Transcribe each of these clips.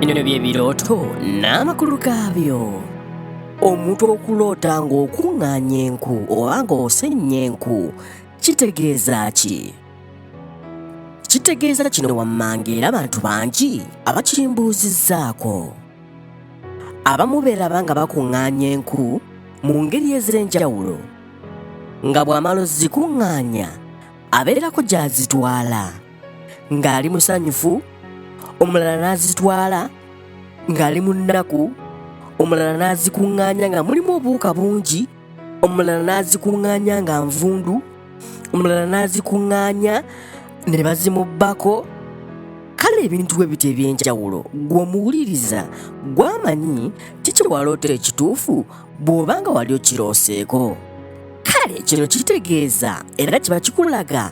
Bino bye birooto n'amakulu gaabyo. Omuntu okuloota ng'okuŋŋaanya enku oba ng'osennya enku kitegeeza ki? Kitegeeza kino wammanga era abantu bangi abakimbuuzizzaako. Abamu beeraba nga bakuŋŋaanya enku mu ngeri ez'enjawulo nga bw'amala ozikuŋŋaanya abeerako gy'azitwala ng'ali musanyufu omulala n'azitwala ng'ali mu nnaku omulala n'azikuŋŋaanya nga mulimu obuwuka bungi omulala n'azikuŋŋaanya nga nvundu omulala n'azikuŋŋaanya ne bazimubbako kale ebintu bwe bityo eby'enjawulo gw'omuwuliriza gw'amanyi kiki waloota ekituufu bw'oba nga wali okirooseeko kale kino kitegeeza era kiba kikulaga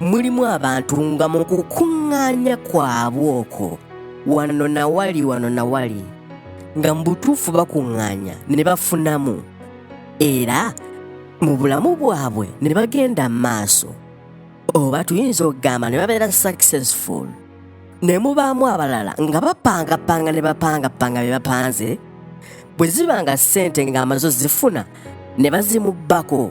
mulimu abantu nga mu kukuŋŋaanya kwabwe okwo wano na wali wano na wali nga mu butuufu bakuŋŋaanya ne bafunamu era mu bulamu bwabwe ne bagenda mu maaso oba tuyinza okugamba ne babeera successful ne mubaamu abalala nga bapangapanga ne bapangapanga bye bapanze bwe ziba nga ssente ng'amazo zifuna ne bazimubbako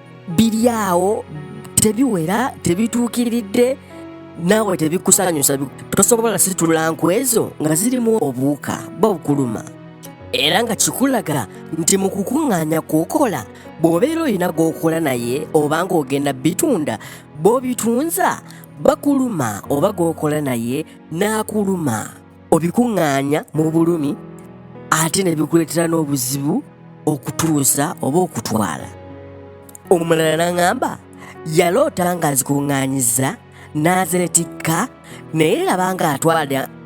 biri awo tebiwera tebituukiridde naawe tebikusanyusa tosobola situla nku ezo nga zirimu obuwuka bwokuluma era nga kikulaga nti mu kukuŋŋaanya kwokola bw'obeera olina gw'okola naye oba ng'ogenda bitunda bw'obitunza bakuluma oba gw'okola naye n'akuluma obikuŋŋaanya mu bulumi ate ne bikuleetera n'obuzibu okutuusa oba okutwala omulala n'aŋamba yaloota nga azikuŋŋaanyiza n'azeetikka naye laba nga atwala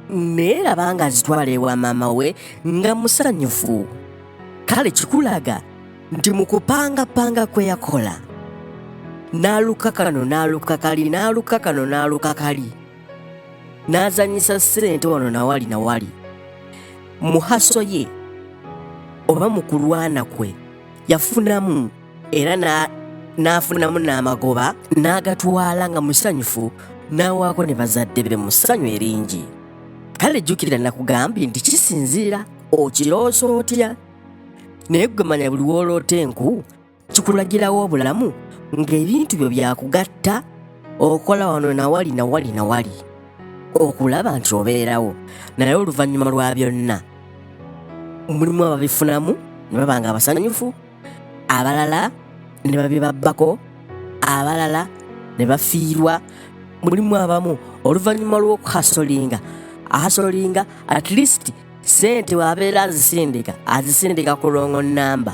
naye laba nga azitwala ewa maama we nga musanyufu kale kikulaga nti mu kupangapanga kwe yakola n'aluka kano n'aluka kali n'aluka kano n'aluka kali n'azanyisa sente wano nawali nawali muhaso ye oba mu kulwana kwe yafunamu era n'afunamu n'amagoba n'agatwala nga musanyufu n'awaako ne bazadde be mu ssanyu eringi kale jjukira nakugambye nti kisinziira okiroosa otya naye gwe manya buli wooloota enku kikulagirawo obulamu ng'ebintu byo byakugatta okola wano nawali nawali nawali okulaba nti obeerawo naye oluvannyuma lwa byonna mulimu ababifunamu ne baba nga abasanyufu abalala ne babibabbako abalala ne bafiirwa mulimu abamu oluvannyuma lw'okuhasolinga ahasolinga at least sente waabeera azisindika azisindika ku longo namba